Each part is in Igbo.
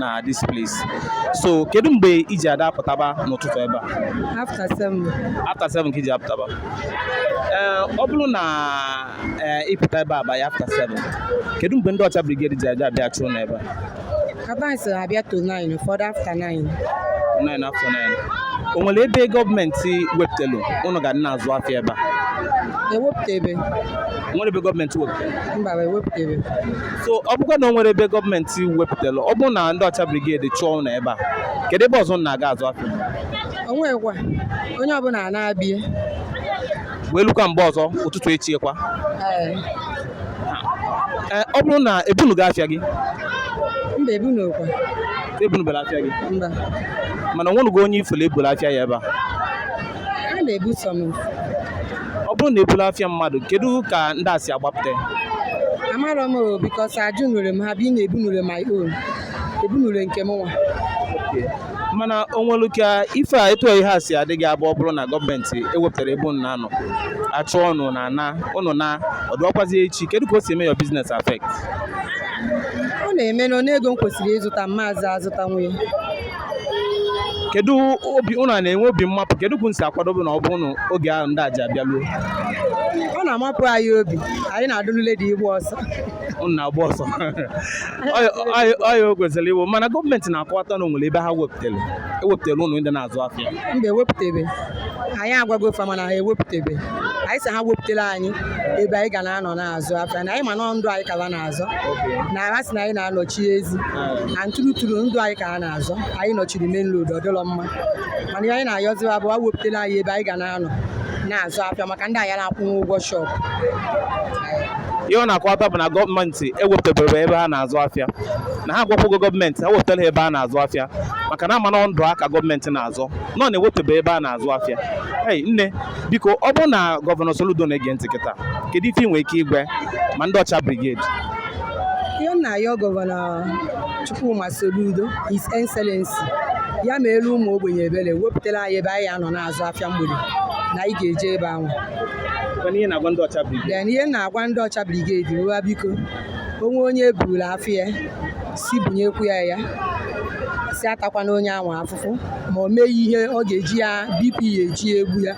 na this place so kedu mgbe i ji adị apụtaba n'ụtụtụ ebe a after seven after seven ka i ji apụtaba ee ọ bụrụ na ee ịpụta ebe a by after seven kedu mgbe ndị ọcha brigade ji aja abịa chụọ ụnụ ebe a kaban so abịa to nine ụfọdụ after nine nine after nine o nwere ebe gọọmenti wepụtelu ụnụ ga na-azụ afịa ebe a ewepụtabe o nwere ebe gọọmenti wepụtelu mba ewepụtabe so ọ bụkwa na o nwere ebe gọọmenti wepụtara ọ bụrụ na ndị ọcha brigade chụọ ụnụ ebe a kedu ebe ọzọ ụnụ na-aga azụ afịa o nwekwa onye ọbụla anaa be ya wee lukwa mgbe ọzọ ụtụtụ echi kwa ee Ee, ọ bụrụ na ebunugo afịa gị mba ebu na okwa ebunubela afịa gị mba mana onwenugo onye ị fụlụ ebulu afịa ya ebe a a na-ebu some ọ bụrụ na ebulu afịa mmadụ kedu ka ndị a si agbapụta ya? amarọ m o because ajụnurọ m ha being na ebunure my own ebunure nke mụnwa mana o nwere ka ife a etu ihe a si adị gị abụ ọ bụrụ na gọọmenti ewepụtara ebe unu na-anọ achụ ụnụ na ana ụnụ anọdụọkwazi echi kedu ka o si eme your business affect ọ na-eme na ego m kwesịrị ịzụta m mazị azụtanwu ya kedu obi ụnụ na-enwe obi mmapụ kedu ka unu si akwado obi na ọ bụrụ na oge ahụ ndị a ji abịa luo ọ na-amapụ anyị obi anyị na-adị ready ịgba ọsọ ụnụ na-agba ọsọ ọya o kwesịrị iwu mana gọọmenti na-akọwata na onwere ebe ha wepụtara ewepụtara ụnụ ndị na-azụ afịa mba ewepụtabe anyị agwago fa mana ha ewepụtabe anyị sị ha wepụtara anyị ebe anyị ga na-anọ na-azụ afịa na anyị ma na ndụ anyị ka ha na-azọ na ha sị na anyị na-anọchi ezi na true true ndụ anyị ka ha na-azọ anyị nọchiri main road ọ dịlọ mma mana ihe anyị na-ayọzi ha bụ ha wepụtara anyị ebe anyị ga na-anọ na-azụ afịa maka ndị anyị na-akwụnwu ụgwọ shọpụ ihe ọ na-akọwata bụ na gọọmenti ewepụtabere ebe ha na-azụ afịa na ha agwakwago gọọmenti ha wepụtara ha ebe ha na-azụ afịa maka na ha ma na ndụ ha ka gọọmenti na-azọ mana ewepụtabe ebe ha na-azụ afịa ei nne biko ọ bụrụ na gọvanọ Soludo na-ege ntị kịta kedu ife ị nwere ike ịgwa ya ma ndị ọcha brigade ihe m na-ayọ gọvanọ Chukwuma Soludo His Excellency ya meelu ụmụ ogbenye ebere wepụtara anyị ebe anyị ya-anọ na-azụ afịa mgbede na anyị ga-eje ebe ahụ ihe ị na-agwa ndị ọcha brigade na-agwa ndị ọcha brigade biko o nwee onye eburu afịa sị bunyekwu ya ya sị atakwana onye ahụ afụfụ ma o meghị ihe ọ ga-eji ya bp ya eji ya egbu ya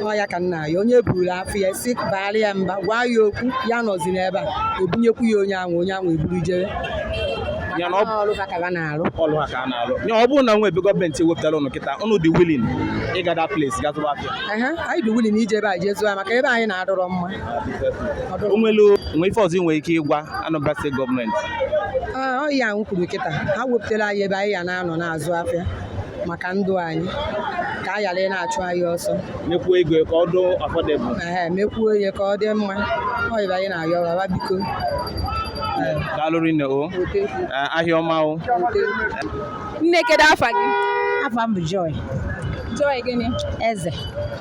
ọ ya ka m na-ayọ onye eburu afịa ya sị baara ya mba gwa ya okwu ya anọzina ebe a ebunyekwu ya onye ahụ onye ahụ eburu jee ree ya na ọ bụ ọrụ ha ka ha na-arụ ọlụ ha ka ha na-alụ ya ọ bụrụ na e nwe ebe gọọmenti wepụtara ụnụ kịta ụnụ dị willing ịga that place ga zụba afịa Ehe, anyị dị willing ije ebe a jee zụọ ya maka ebe anyị nọ adịrọ mma o nwelu ife ọzọ i nwere ike ịgwa Anambra steeti gọọmenti ọ ya ahụ kwuru kịta ha wepụtara anyị ebe anyị ya na-anọ na-azụ afịa maka ndụ anyị ka a ghara ịna-achụ anyị ọsọ mekwuo ego ka ọ dị affordable ee mekwuo ihe ka ọ dị mma ọ ya ka anyị na-ayọ ba biko daalụ rinne o ahịa ọma o nne kedu afa gị afa m bụ Joy Joy gịnị Eze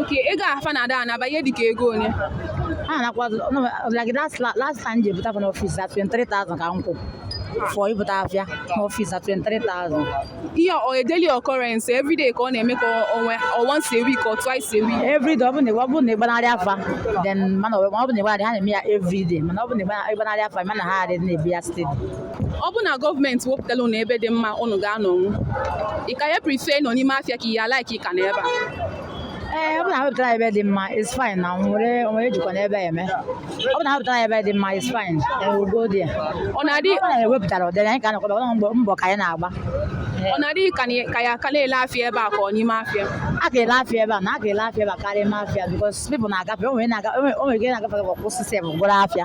Okay, ego a fa na-ada ọ na-abụ ihe dịka ego ole? A na-akwa like last last time je buta n'ọfịs at 23,000 ka m kwụ for ibuta afịa n'ọfịs at 23,000. Ihe a ọ daily occurrence every day ka ọ na-eme ka onwe or once a week or twice a week. Every day ọ bụ na ọ bụ na ị gbanarịa fa then mana ọ bụ na ị gbanarị ha na-eme ya every day mana ọ bụ na ị gbanarịa fa mana ha adịghị na-ebu ya steady. ọ bụ na gọọmenti wepụtala ụnụ ebe dị mma ụnụ ga-anọnwu ị ka ya prefer ịnọ n'ime afịa ka ị ya-alike ịka nọ ebe a ee ọ bụ na wepụtara ebe dị mma is fine na nwere o nwere jikwa n'ebe a eme ọ bụ na wepụtara ebe dị mma is fine ewugo dị ya ọ na-adị ọ na-ewepụtara ụdịrị anyị ka a na-akwaba ọ mbọ mbọ ka anyị na-agba ọ na-adị ka na- ka ya aka na-ele afịa ebe a ka ọ n'ime afịa a ga-ele afịa ebe a na a ga-ele afịa ebe a karịa ime afịa because people na-agafe o nwere na-aga- o nwere- o nwere ike na-agafe kwụsị sef gọrọ afịa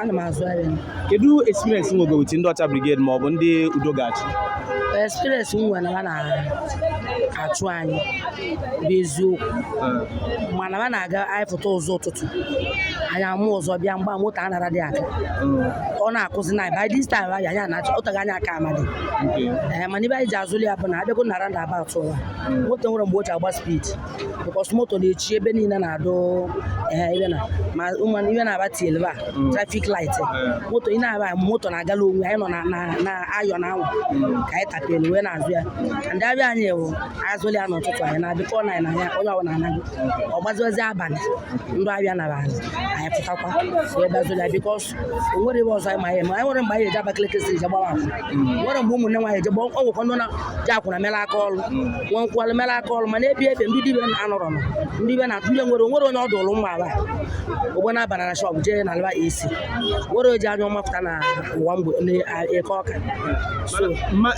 ana m azụ ahịa kedu experience i nwego with ndị Ọcha Brigade ma ọ bụ ndị Udo Ga-achị experience m nwere na ha na-achụ anyị bụ eziokwu mana ha na-aga anyị pụta ụzọ ụtụtụ anyị ama ụzọ bịa mgbe moto anara adị aga ọ na-akụzi na by this time anyị anyị anacha ụtaghị anyị aka amadị ee mana ibe anyị ji azụli ya bụ na abịago na roundabout ụwa moto nwere mgbe o ji agba speed because moto na-echi ebe niile na-adụ ehe ibe na ma ụmụ ibe na-aba tiele ba traffic light moto ị na-aba moto na-agala onwe anyị nọ na na na ayọ na anwụ ka anyị tapelu wee na-azụ ya ndị afịa anyị bụ azụli ya n'ụtụtụ anyị na-abịa kọọ na anyị na ya onye ọbụla anaghị ọ gbaziwazi abalị ndị afịa naa anyị pụtakwa wee bazụli ya because o nwerọ ebe ọzọ anyị ma ihe ma anyị nwere mgbe anyị eji Abakaliki Street je gbawa akwụna nwere mgbe ụmụnne nwaanyị je gbawa ọ nwekwa ndị na-eji akwụna mere aka ọrụ nwe nkwalụ mere aka ọrụ mana ebi ebe ndị dibe anọrọ nọ ndị be na-atụ ndị nwere onwere onye ọdụ ụlụ mma aba ogbe na-abana na shọpụ jee na alaba esi nwere oji anya ọma pụta na ụwa mgbe n'Eke Ọka so ma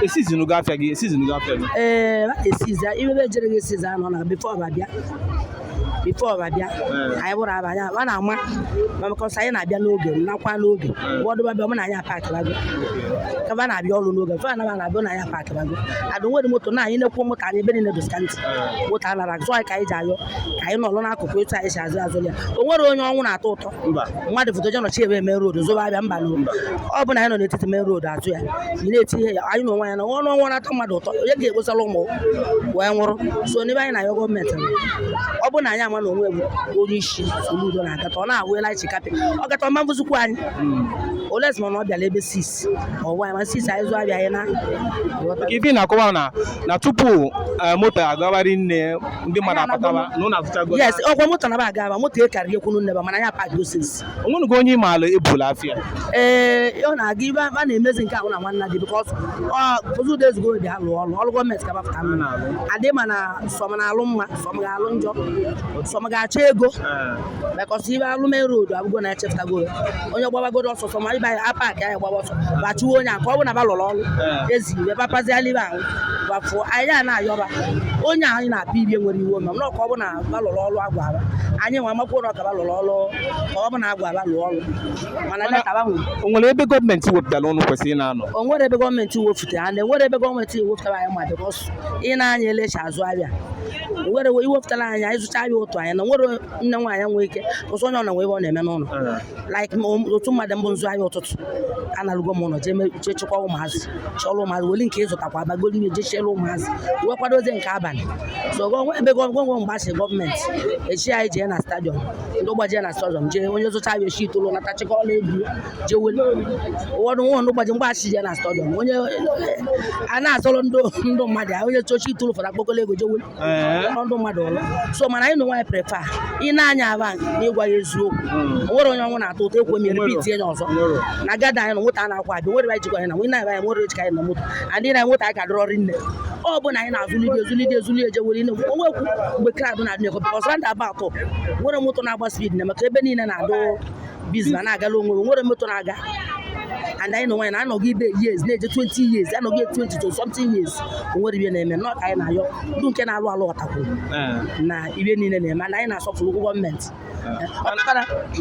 esizinu gị afịa gị esizinu gị afịa gị ee esizi ibe ebe ejere gị esizi anọ na before ọba bịa before ọba bịa anyị bụrụ aba anyị a na-ama ma maka ọsọ anyị na-abịa n'oge nakwa n'oge wọdụba bịa mụ na anyị apakịbago ka ba na-abịa ọrụ n'oge mfe anaba na-abịa na anyị apakịbago adụ nwere moto na anyị na-ekwu moto anyị ebe niile doska ntị moto anara zụ anyị ka anyị ji ayọ ka anyị nọrọ n'akụkụ etu anyị si azụ azụ ya o nwerọ onye ọnwụ na-atọ ụtọ mmadụ fụta je nọchie ebe main road zụba afịa mba nụ ọ bụ na anyị nọ n'etiti main road atụ ya ị na-eti ihe ya anyị na onwe anyị na ọnwụ ọnwụ na-atọ mmadụ ụtọ onye ga-ekposara ụmụ wee nwụrụ so na ife anyị na-ayọ gọọmenti ọ bụ na anyị ama na onwe bụ onye isi Soludo na-agata ọ na-awụela ichi kapị ọ gata ọma mbụzikwu anyị olezima na ọ bịala ebe six ọwa ma six anyị zụọ afịa anyị naa maka ife ị na-akọwa na na tupu eh, moto agawari nne ndị mmadụ apụtaba na ụnụ azụchago yes ọkwa moto na ba aga aba moto akarịghị ekwunu nneba mana ya park osisi onwenugo onye ịmaala ebula afịa ee ọ na-aga ife a na-emezi nke ahụ na nwanna dị because ụzọ ụda ezigbo obi ha lụọ ọlụ ọrụ gọọmenti kabapụta nụ adị ma na some na-alụ mma some ga-alụ njọ some ga-achọ ego because ibe alụme road abụgo na echefutago onye gbabagoro ọsọsọ ma ibe a paakị anyị gbaba ọsọ bachiwe onye a ka ọ bụ na ba lụrụ ọrụ ezi iwe bapaziala ibe ahụ bafụọ anyị a na-ayọba onye anyị na-apịa ibie nwere iwu ma mana ọka ọ bụ na ba lụrụ ọrụ a gwara ba anyị nwe amakwuo na ọkwa ba lụrụ ọrụ ka ọ bụ na a gwara ba lụọ ọrụ mana leta ba nwere o nwere ebe gọọmenti wepụtara ụnụ kwesịrị ị na-anọ o nwere ebe gọọmenti wefutara na enwerọ ebe gọọmenti wefutara anyị ma because ị na-anya elecha azụ afịa nwere e wepụtara anyị anyị zụcha ya otu anyị na nwere nne nwaanyị nwee ike ụsọ onye ọ na nwe ebe ọ na-eme n'ụlọ like otu mmadụ mbụ nzu anyị ụtụtụ analụgo m ụlọ jee chekwa ụmụazị chọrọ ụmụazị weli nke ịzụtakwa abagolu ihe jee chere ụmụazị wee kwadozie nke abalị so gọnwe ebe gọnwe mgbe a sị gọọmenti echi anyị jee na stadium ndị ụgbọ jee na stadium jee onye zụcha ya echi itolu nata chekwa ọla egwu jewe ụfọdụ nwa ndị ụbọchị mgbe achị ya na stadium onye a na-azọrọ ndị ndị mmadụ ahụ, onye chochi itụrụ fara akpọkọla ego jewe Ee. ọrụ ndị mmadụ ọrụ so mana anyị na onwe anyị prefer ịna-anọ ebe a na ịgwa ya eziokwu o nwerọ onye ọnwụ na-atọ ụtọ ekwe mere pit enye ọzọ na gada anyị na nweta a na-akwa abịa nwere anyị jikwa anyị na nwunye anyị anyị nwere ejika anyị na moto adị na nweta anyị ka dịrọ ọrụ nne ọ bụ na anyị na-azụlite ezulite ezulite ejewere ine onwekwu mgbe crowd na-adị na-ekwe ọsọ ndị aba atọ nwere moto na-agba speed na maka ebe niile na-adụ busy na na-agala onwe nwere moto na-aga and anyị na onwe anyị na anọgo ife years na-eje 20 years anọgo 20 to something years o nwerọ ife na-eme nụ ka anyị na-ayọ ndị nke na-alụ alụ ọtakwụ eh. na ife niile na-eme na anyị na-asọpụrụ ụgwọ gọọmenti eh.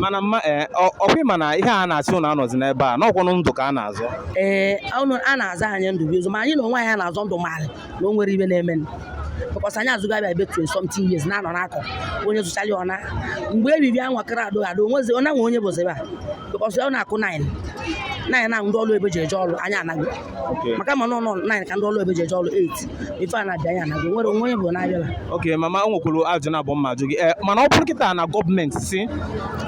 mana mama eh, ọkwa ịma na ihe a na-asị ụnụ anọzi n'ebe a na ọ kwanụ ndụ ka a na-azọ ee a na-azọ anyị ndụ bụ ezie ma anyị na onwe anyị na-azọ ndụ ma na o nwerọ ife na-eme because anyị azụgo afịa ebe 20 something years na-anọ n'akọ onye zụchara ya ọ naa mgbe ebibi anwa kara adụghị adụ onwezi onye nwe onye bụzi ebe a because ọ na-akụ 9 9 na ndị ọrụ ebe ji eje ọrụ anyị anago maka ma nọ nọ 9 ka ndị ọrụ ebe ji eje ọrụ 8 ife a na-abịa anyị anago nwere onwe onye bụ na-abịala ok mama o nwekwuru ajụjụ naabọ m ga-ajụ gị Eh, mana ọ bụrụ kịta na gọọmenti sị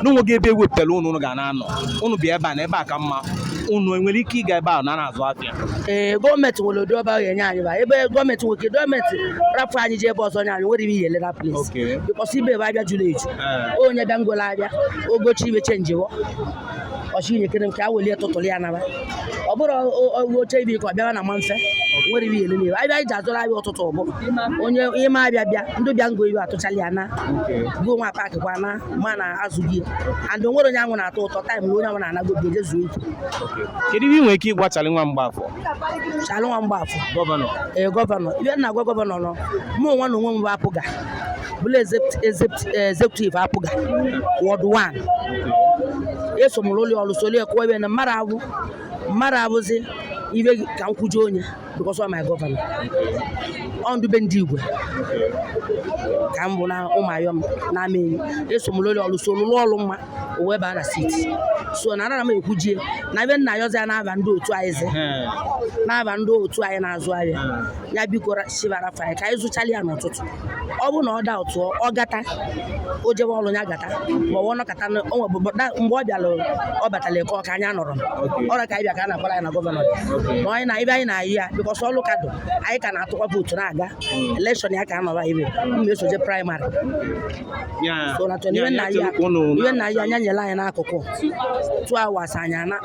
na o nweghị ebe ewepụtara unu unu ga na-anọ unu bịa ebe a na ebe a ka mma unu enwere ike ịga ebe a na na-azụ afịa ee gọọmenti nwere ụdị ọba ga-enye anyị ba ebe gọọmenti nwoke gọọmenti rapụ anyị ji ebe ọzọ nye anyị nwere ihe elera plis Okay. because ife ebe afịa juru eju Ah. onye bịa ngwere afịa o gochi ife chenjiwo ọchị inye kere m ka a welie tụtụrụ ya naba ọ bụrụ o- o- o che ife ka ọ bịara na ma mfe nwere ife ele n'ibe abịa iji azụrụ afịa ụtụtụ ọ bụ onye ị ma afịa bịa ndị bịa ngo ife atụchala ya na Okay. gụọ nwa paakị kwa na ma na azụ gị and o nwere onye anwụ na-atọ ụtọ taịm na onye anwụ na-anago obi eje zuo ike kedu ihe ị nwere ike ịgwa Chalị nwa Mgbafọ Chalị nwa Mgbafọ gọvanọ ee gọvanọ ife m na-agwa gọvanọ na mụ nwa na onwe m bụ APGA bụla executive eh, APGA ward 1 eso m rụọ ọrụ solie kụwa ebe na mmadụ abụ mmadụ abụzi ife ka m kwujie onye because of my governor ọ ndị be Ndigwe ka m bụ na Ụmụayọm na Amaenyi eso m lụọ ọrụ so lụrụ ọrụ mma o wee baa na seat so na anara m ekwujie na ife m na-ayọzi ya n'afa ndị otu anyị zi n'afa ndị otu anyị na-azụ ahịa ya biko shiftara anyị ka anyị zụchala ya n'ụtụtụ ọ bụrụ na ọ daa ụtụọ ọ gata o jebe ọrụ ya gata ma ọ nọkọta mgbe ọ bịara ọ batara Eke Ọka anya nọrọ ọrụ ka anyị bịa ka a na-agbara ya na gọvanọ ma anyị na ife anyị na-ayọ ya because ọ ọrụ ka dụ anyị ka na-atụkwa vootu na-aga hmm. elekshọn ya ka a nọba ibe mma hmm. eso je praịmarị so na chọrọ iwe nna anyị anya nyere anyị n'akụkụ two hours anyị ana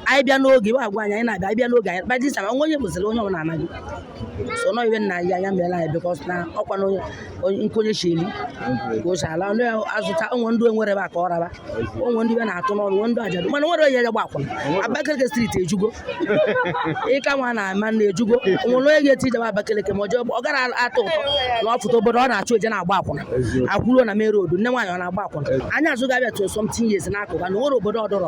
anyị bịa n'oge iwe agwa anyị anyị na-abịa anyị bịa n'oge anyị kpadisa onwe onye bụziri onye ọbụla anaghị so na ọ ife m na-ayọ ya mere anyị because na ọkwa na nkonye chili ka o si ala ndị azụta onwe ndị enwere ebe a ka ọ raba onwe ndị be na-atụ n'ọnụ nwe ndị ajadu mana nwere onye ya gba akwụna Abakaliki Street ejugo ịka nwa na ama na ejugo o nwere onye ga-esi jebe Abakaliki ma ọ gara atụ ụtọ na ọ fụta obodo ọ na-achọ eje na-agba akwụna akwụruo na mere odu nne nwaanyị ọ na-agba akwụna anyị azụga abịa tụ something yes n'akụkụ na nwere obodo ọdọrọ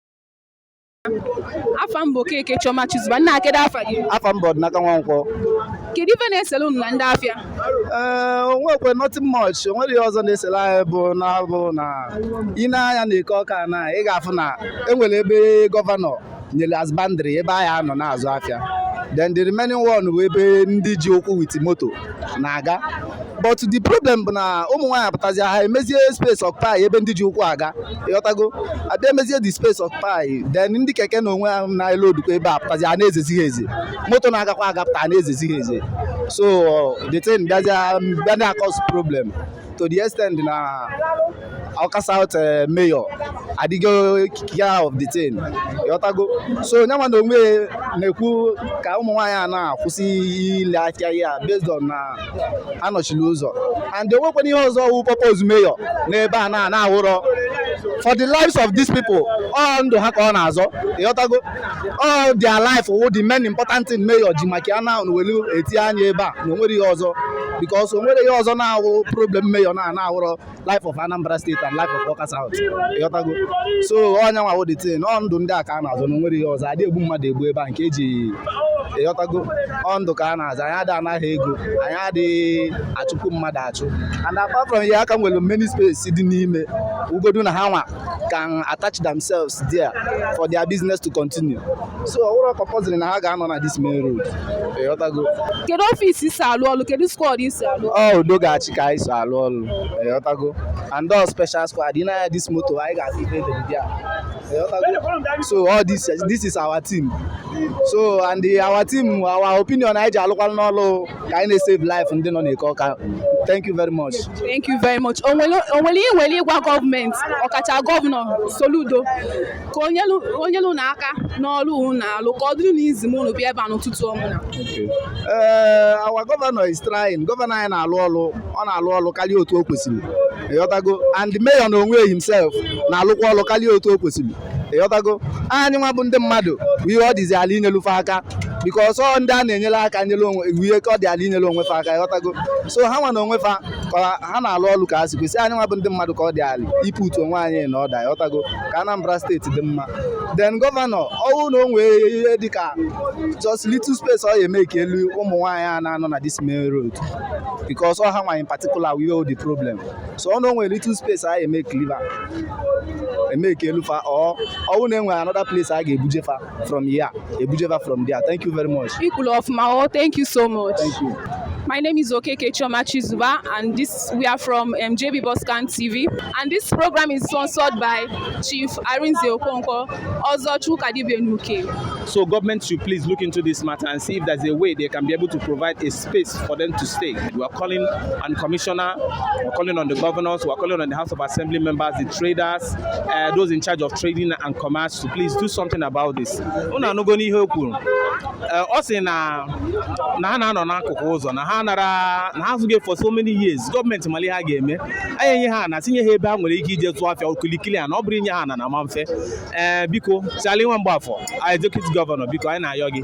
afa m bụ Okeke Chioma Chuzuba nna kedu afa gị afa m bụ Ọdịnaka Nwankwọ kedu ife na-esere unu na ndị afịa ee eh, o nwekwe nothing much o nwere ihe ọzọ na-esere anyị bụ na bụ na ị nee anya na Eke Ọka ana ị ga-afụ na e nwere ebe gọvanọ nyere as boundary ebe anyị anọ na-azụ afịa then the remaining one bụ ebe ndị ji ụkwụ with moto na-aga but the problem bụ na ụmụ nwaanyị apụtazi ha emezie space occupy ebe ndị ji ụkwụ aga ị ghọtago a bịa emezie the space occupy then ndị keke na onwe ha na-ele ndị ụkwụ ebe apụtazi a na-ezezi ha eze moto na-agakwa agapụta a na-ezezi ha eze so the thing bịazịa bịa na-acause problem to the extent na Awka South eh, mayor adịgo care of the thing ị ghọtago so nya nwa na onwe na-ekwu ka ụmụ nwaanyị ana kwụsị ile afịa ha based on na anọchila ụzọ and o nwekwana ihe ọzọ wụ purpose mayor n'ebe ana na-awụrọ for the lives of these people ọ ndụ ha ka ọ na-azọ ị ghọtago all their life wụ the main important thing mayor ji maka ya na welu eti anya ebe a na o nwerọ ihe ọzọ because o nwerọ ihe ọzọ na-awụ problem mayor na na-awụrọ life of Anambra State and life of Awka South ịghọtago so ọ ya nwa wụ the thing ọ ndụ ndị a ka a na-azọ na o nwerọ ihe ọzọ adị egbu mmadụ egbu ebe a nke eji ịghọtago ọ ndụ ka a na-azọ anyị adị anaghị ego anyị adịghị achụpụ mmadụ achụ and apart from ya a ka nwere many space dị n'ime ugodu na ha nwa can attach themselves there for their business to continue so ọ wụrọ compulsory na ha ga-anọ na this main road ịghọtago kedu ọfịs i si alụ ọlụ kedu squad i si alụ ọlụ ọ udo ga-achị ka anyị so alụ ọlụ ịghọtago and all special squad ị nee anya this moto anyị ga-afụ ife e dere be ya ịghọtago so all this this is our team so and the, our team our opinion anyị ji alụkwalụ n'ọlụ ka anyị na-esave life ndị nọ n'Eke Ọka thank you very much thank you very much o nwere ihe i nwere ịgwa gọọmenti ọkacha gọvanọ Soludo ka o nyelu unu aka n'ọrụ unu na-alụ ka ọ dịrị unu easy ma unu bịa ebe a n'ụtụtụ ọ wụ na eh, our governor is trying gọvanọ anyị na-alụ ọrụ ọ na-alụ ọrụ karịa otu o kwesịrị ịghọtago and mayor na onwe himself na-alụkwa ọrụ karịa otu o kwesịrị ịghọtago anyị nwa bụ ndị mmadụ ihe ọ dịzi ala inyelu fa aka because ọ ndị a na-enyere aka nyere onwe ihe ka ọ dị ala inyere onwe fa aka ịghọtago so ha nwa na onwe fa ha na-alụ ọlụ ka ha si kwesị anyị nwa bụ ndị mmadụ ka ọ dị ala iputu onwe anyị na order ịghọtago ka Anambra steeti dị mma then gọvanọ ọ wụ na o nwee ihe dịka just little space ọ ya-emakelu ụmụ nwaanyị a na-anọ na this main road because ọ ha nwa particular wụ the problem so ọ na o nwere little space a eme cleaver eme ka elu fa ọ ọwụ na enwere another place a ga-ebuje fa from here ebuje fa from there thank you very much Ikulu of Mao, thank you so much. thank you My name is Okeke Choma Chizuba, and this we are from um, JB Boscan TV. And this program is sponsored by Chief Arinze Okonko, Ozo Chukadibenuke. So government should please look into this matter and see if there's a way they can be able to provide a space for them to stay. We are calling on the commissioner, we are calling on the governors, we are calling on the House of Assembly members, the traders, uh, those in charge of trading and commerce to please do something about this. Unu anụgo ihe o kwuru uh, ọ sị na na ha na-anọ n'akụkụ ụzọ na ha anọla na-azụ ahịa for so many years gọọmenti mara ihe ha ga-eme anyị enye ha na tinye ha ebe ha nwere ike ije tụọ afịa okilikili a na ọ bụrụ inye ha na na ma mfe ee eh, biko Charlie Nwamgbafọ anyị executive gọvanọ biko anyị na-ayọ gị